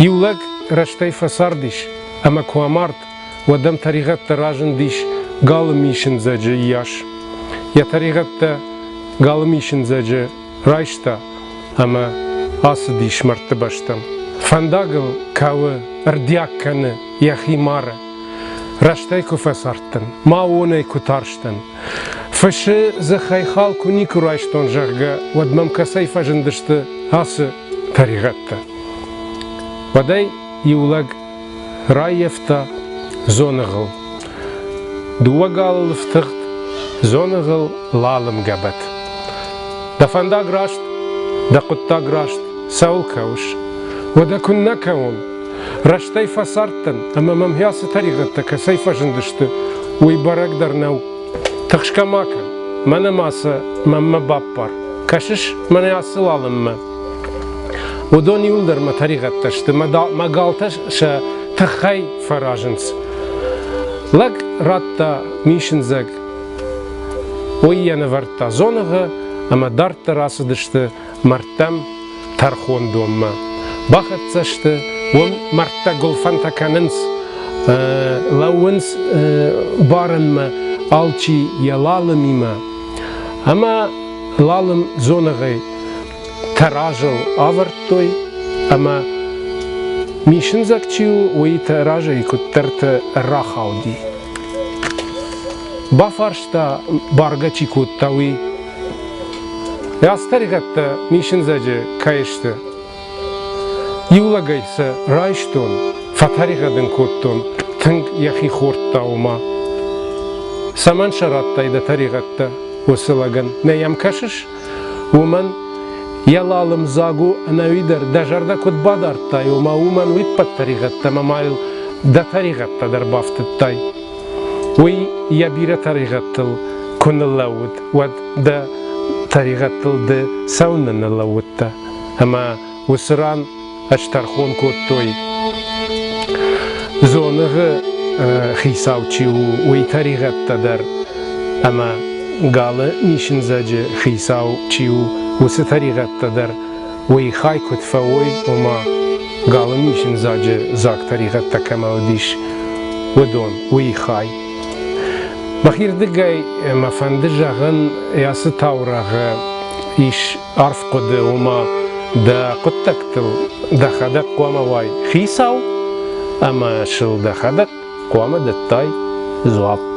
Иу лӕг рӕстӕй фӕцардис ӕмӕ куы амард, уӕд ӕм тӕригъӕдтӕ разындис галы мисындзӕджы йас. Йӕ тӕригъӕдтӕ галы мисындзӕджы райста ӕмӕ ацыдис мӕрдты бӕстӕм. Фӕндагыл кӕуы, ӕрдиаг кӕны йӕхи мары. Рӕстӕй куы фӕцардтӕн, ма уонӕй куы тарстӕн. Фысы дзыхӕй хал куы никуы райстон, зӕгъгӕ, уӕд мӕм кӕцӕй фӕзындысты ацы тӕригъӕдтӕ. Уӕдӕй иу лӕг раййӕфта дзоныгъыл. Дыууӕ галы лыфтыгъд, дзоныгъыл лалымгӕбӕт. Дӕ фӕндаг раст, дӕ хъуыддаг раст, цӕуыл кӕуыс? Уӕдӕ куыннӕ кӕуон? Рӕстӕй фӕцардтӕн, ӕмӕ мӕм хӕцы тӕригъӕдтӕ кӕцӕй фӕзындысты, уый бӕрӕг дӕр нӕу. Тыхсгӕ ма кӕн, мӕнӕ ма сӕ мӕнмӕ баппар. Кӕсыс мӕнӕ ацы лалынмӕ? Уыдон иуылдӕр мӕ тӕригъӕдтӕ сты, мӕ галтӕ сӕ тыххӕй фӕразынц. Лӕг радта мисындзӕг. Уый йӕ нывӕрдта дзоныгъы, ӕмӕ дарддӕр ацыдысты мӕрдтӕм тӕрхондонмӕ бахӕццӕ сты, уым мӕрдтӕ гуылфӕнтӕ кӕнынц, лӕууынц барынмӕ алчи йӕ лалымимӕ. Ӕмӕ лалым дзоныгъӕй тӕразыл авӕрдтой ӕмӕ мисындзӕг чи у, уый та разӕй куыддӕрты рахауди. Бафарста, бӕргӕ чи кодта, уый, Растӕригъӕдтӕ мисындзӕджы кӕй сты? Иу лӕгӕй сӕ райстон, фӕтӕригъӕд ын кодтон тынг йӕхи хордтаума. Цӕмӕн сӕ радтай дӕ тӕригъӕдтӕ уыцы лӕгӕн? Нӕ йӕм кӕсыс? Уымӕн йӕ лалымдзаг у ӕнӕуи дӕр дӕ зӕрдӕ куыд бадардтай, ома уымӕн уиппӕт тӕригъӕдтӕ мӕ ма йыл дӕ тӕригъӕдтӕ дӕр бафтыдтай. Уый йӕ бирӕ тӕригъӕдтыл куы ныллӕууыд, уӕд дӕ тӕригъӕдтыл ды цӕуыннӕ ныллӕууыдтӕ? Ӕмӕ уыцы ран ӕз тӕрхон кодтой, дзоныгъы хицау чи у, уый тӕригъӕдтӕ дӕр. Ӕмӕ галы нисындзӕджы хицау чи у, уыцы тӕригъӕдтӕ дӕр Уый хай куыд фӕуой, ома, галы низзынзаджы дзаг тӕригъӕдтӕ кӕмӕ уыдис, уыдон, уый хай. Мӕхирдыгӕй мӕ фӕнды зӕгъын, ацы таурӕгъы ис арф хъуыды, ома дӕ хъуыддӕгтыл дӕхӕдӕг хъуамӕ уай хицау ӕмӕ сыл дӕхӕдӕг хъуамӕ дӕттай дзуапп.